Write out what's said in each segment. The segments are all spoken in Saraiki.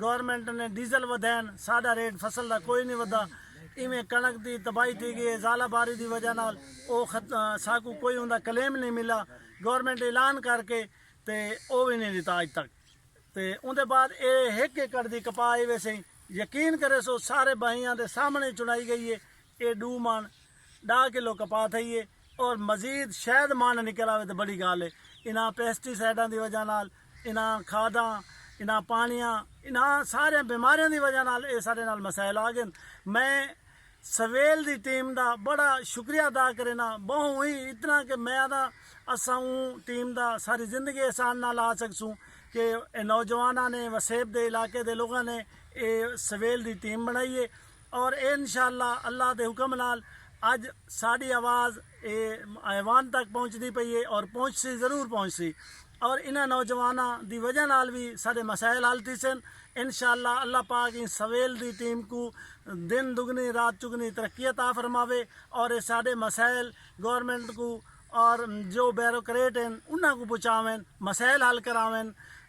گورنمنٹ نے ڈیزل ودھین ساڈا ریٹ فصل دا کوئی نی ودھا ایویں کنڑک دی تباہی تھی گئی اے زالہ باری دی وجہ نال او ساکوں کوئی اوندا کلیم نی ملا گورنمنٹ اعلان کر کے تے او وی نی ڈتا اج تک تے اوندے بعد اے ہک ایکڑ دی کپاہ آئی ویسے یقین کریسو سارے بھائیاں دے سامنے چنڑائی گئی اے اے ڈو من ڈاہ کلو کپاہ تھئی ہے اور مزید شاید مانڈ نکل آوے تے بڑی گال ہے انہاں پیسٹی سائیڈاں دی وجہ نال انہاں کھاداں انہاں پانیاں انہاں سارے بیماریاں دی وجہ نال اے سارے نال مسائل آ گن میں سویل دی ٹیم دا بڑا شکریہ ادا کرینا بہوں ہی اتنا کہ میں آدھا اساں اوں ٹیم دا ساری زندگی احسان نال آ سکسوں کہ نوجواناں نے وسیب دے علاقے دے لوگاں نے اے سویل دی ٹیم بنائی ہے اور اے انشاء اللہ اللہ دے حکم نال اج ساڈی آواز اے ایوان تک پہنچدی پئی اے اور پہنچسی ضرور پہنچسی اور انہاں نوجواناں دی وجہ نال وی ساڈے مسائل حل تھیسن انشاء اللہ اللہ پاک ایں سویل دی ٹیم کوں دن دگنی رات چگنی ترقی عطا فرماوے اور اے ساڈے مسائل گورنمنٹ کوں اور جو بیروکریٹ ہن انہاں کوں پہنچاون مسائل حل کراون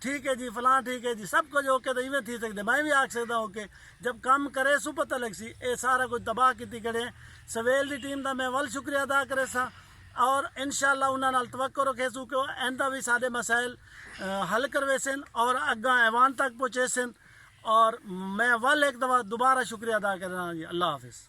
ٹھیک ہے جی فلاں ٹھیک ہے جی سب کچھ اوکے تو ایویں تھی سکدے میں بھی آکھ سکدا اوکے جب کم کرے سو پتہ لگ سی اے سارا کچھ تباہ کیتی کھڑے ہیں سویل دی ٹیم دا میں ول شکریہ ادا کرے سا اور انشاءاللہ انہاں نال توقع رکھے سو کہ ایندا بھی سارے مسائل حل کروے سن اور اگاں ایوان تک پہنچے سن اور میں ول ایک دفعہ دوبارہ شکریہ ادا کرنا جی اللہ حافظ